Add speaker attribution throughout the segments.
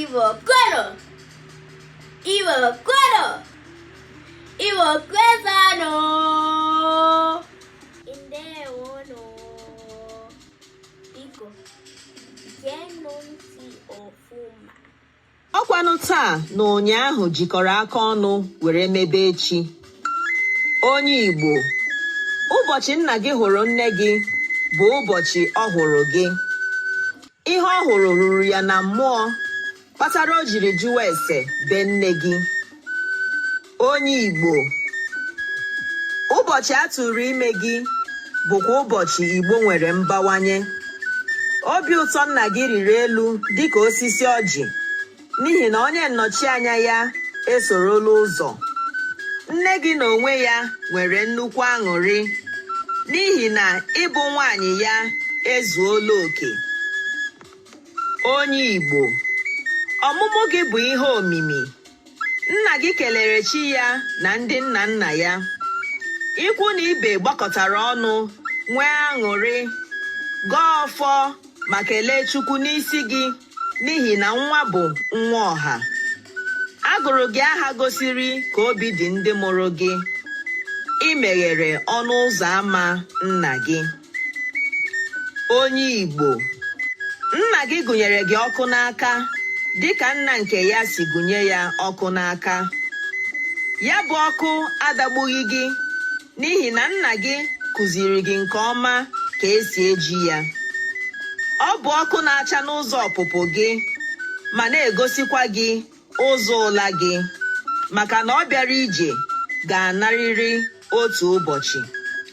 Speaker 1: Iwo Koro. Iwo Koro. Iwo Kwezano. Indewono. Biko. Genonti ofuma. ọkwanụ
Speaker 2: taa na ụnyaahụ jikọrọ aka ọnụ were mebe echi onye igbo ụbọchị nna gị hụrụ nne gị bụ ụbọchị ọ hụrụ gị ihe ọ hụrụ ruru ya na mmụọ kpatara o jiri jụwa ese be nne gị onye Igbo ụbọchị a tụrụ ime gị bụkwa ụbọchị Igbo nwere mbawanye obi ụtọ nna gị riri elu dịka osisi ọjị n'ihi na onye nnọchianya ya esorola ụzọ nne gị na onwe ya nwere nnukwu aṅụrị n'ihi na ịbụ nwaanyị ya ezuola oke onye Igbo ọmụmụ gị bụ ihe omimi Nna gị kelere chi ya na ndị nna nna ya. Ikwu na ibe gbakọtara ọnụ nwee aṅụrị, gọọ ọfọ ma kelee Chukwu n'isi gị n'ihi na nwa bụ nwa ọha. A gụrụ gị aha gosiri ka obi dị ndị mụrụ gị. I meghere ọnụ ụzọ ama nna gị. onye Igbo nna gị gụnyere gị ọkụ n'aka dịka nna nke ya si gụnye ya ọkụ n'aka ya bụ ọkụ adagbughị gị n'ihi na nna gị kụziiri gị nke ọma ka esi eji ya ọ bụ ọkụ na-acha n'ụzọ ọpụpụ gị ma na-egosikwa gị ụzọ ụla gị maka na ọ bịara ije ga-anarịrị otu ụbọchị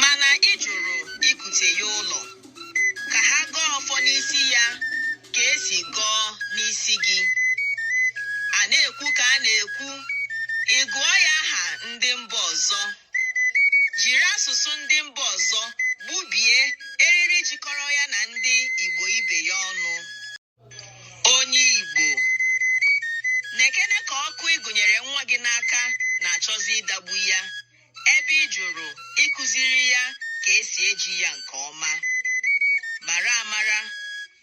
Speaker 2: mana ị jụrụ ikute ya ụlọ ka ha gọọ ọfọ n'isi ya ka esi gọọ n'isi gị a na-ekwu ka a na-ekwu ị gụọ ya aha ndị mba ọzọ jiri asụsụ ndị mba ọzọ gbubie eriri jikọrọ ya na ndị Igbo ibe ya ọnụ onye Igbo nekene ka ọkụ ị gụnyere nwa gị n'aka na-achọzi ịdagbu ya ebe ị jụrụ ịkụziri ya ka esi eji ya nke ọma mara amara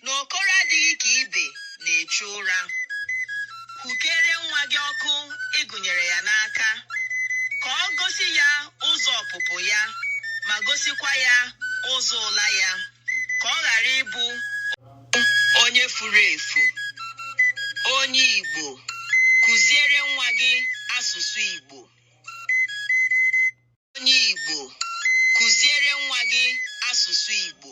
Speaker 2: na okoro adịghị ka ibe na-echu ụra hụkere nwa gị ọkụ ị gụnyere ya n'aka ka ọ gosi ya ụzọ ọpụpụ ya ma gosikwa ya ụzọ ụla ya ka ọ ghara ịbụ onye furu efu onye Igbo kụziere nwa gị asụsụ Igbo onye Igbo kụziere nwa gị asụsụ Igbo